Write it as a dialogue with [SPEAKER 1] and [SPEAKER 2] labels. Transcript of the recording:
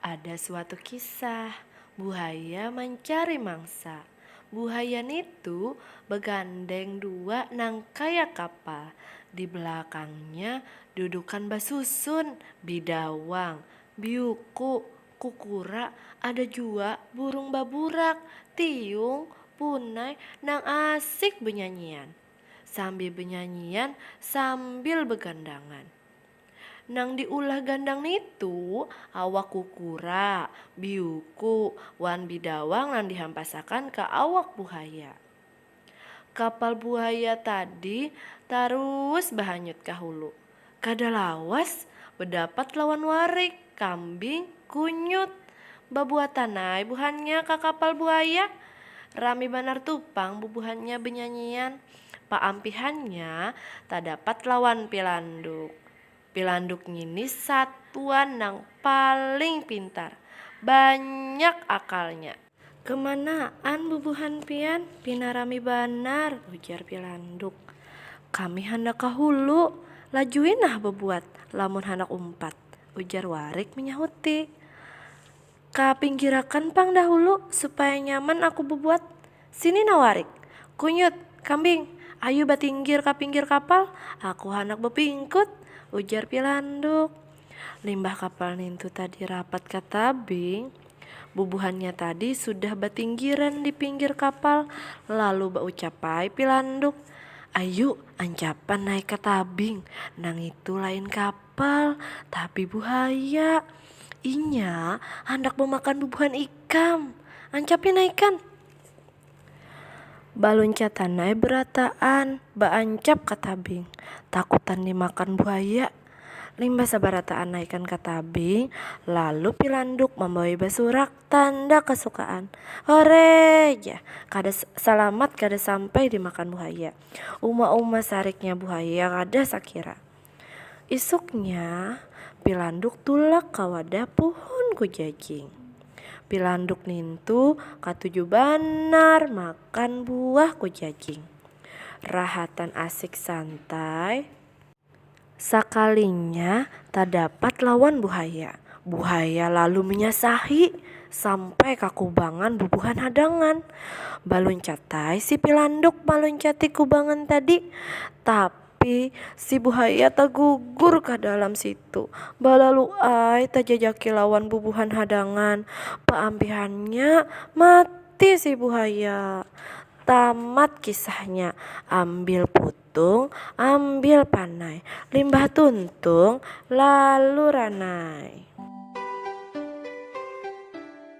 [SPEAKER 1] Ada suatu kisah, buhaya mancari mangsa. Buhaya nitu bagandeng dua nang kaya kapal, di balakangnya dudukan basusun, bidawang, biuku, kukura, ada jua burung baburak, tiung, punai nang asik banyanyian. Sambil banyanyian sambil bagandangan. Nang diulah gandang nitu awak kukura, biuku, wan bidawang nang dihampasakan ka awak buhaya. Kapal buhaya tadi tarus bahanyut ka hulu. Kada lawas, bedapat lawan warik, kambing, kunyut. Babuatan ai buhannya ka kapal buhaya. Rami banar tu pang bubuhannya benyanyian. Paampihannya tadapat lawan Pilanduk. Pilanduk ngini satuan nang paling pintar. Banyak akalnya. Kemanaan bubuhan pian? Pina rami banar, ujar Pilanduk. Kami handak ka hulu. Lajui nah bebuat lamun handak umpat, ujar Warik menyahuti. Ka pinggirakan pang dahulu, supaya nyaman aku bebuat. Sini nah warik. Kunyut, kambing, ayu batinggir ka pinggir kapal, aku handak bepingkut, ujar Pilanduk. Limbah kapal nintu tadi rapat ka tabing, bubuhannya tadi sudah batinggiran di pinggir kapal, lalu baucap ai Pilanduk, Ayu, ancapan naik ka tabing, nangitu lain kapal. kapal, tapi buhaya. Inya handak memakan bubuhan ikam. Ancapnya naikan! Baluncatan ai berataan baancap ka tabing, takutan dimakan buhaya. Limbah sabarataan naikan ka tabing, lalu Pilanduk mambawai basurak tanda kasukaan. Horee! jar. Kada salamat kada sampai dimakan buhaya. Uma-uma sariknya buhaya kada sakira. Isuknya, Pilanduk tulak ka wadah puhun kujajing. Pilanduk nintu katuju banar makan buah kujajing. Rahatan asik santai, sakalinya tadapat lawan buhaya. Buhaya lalu manyasahi sampai ka kubangan bubuhan hadangan. Baluncat ai si Pilanduk maluncati kubangan tadi, tapi. Tapi si buhaya tagugur ka dalam situ, balalu ai tajajaki lawan bubuhan hadangan, paampihannya mati si buhaya. Tamat kisahnya, ambil putung, ambil panai, limbah tuntung lalu ranai.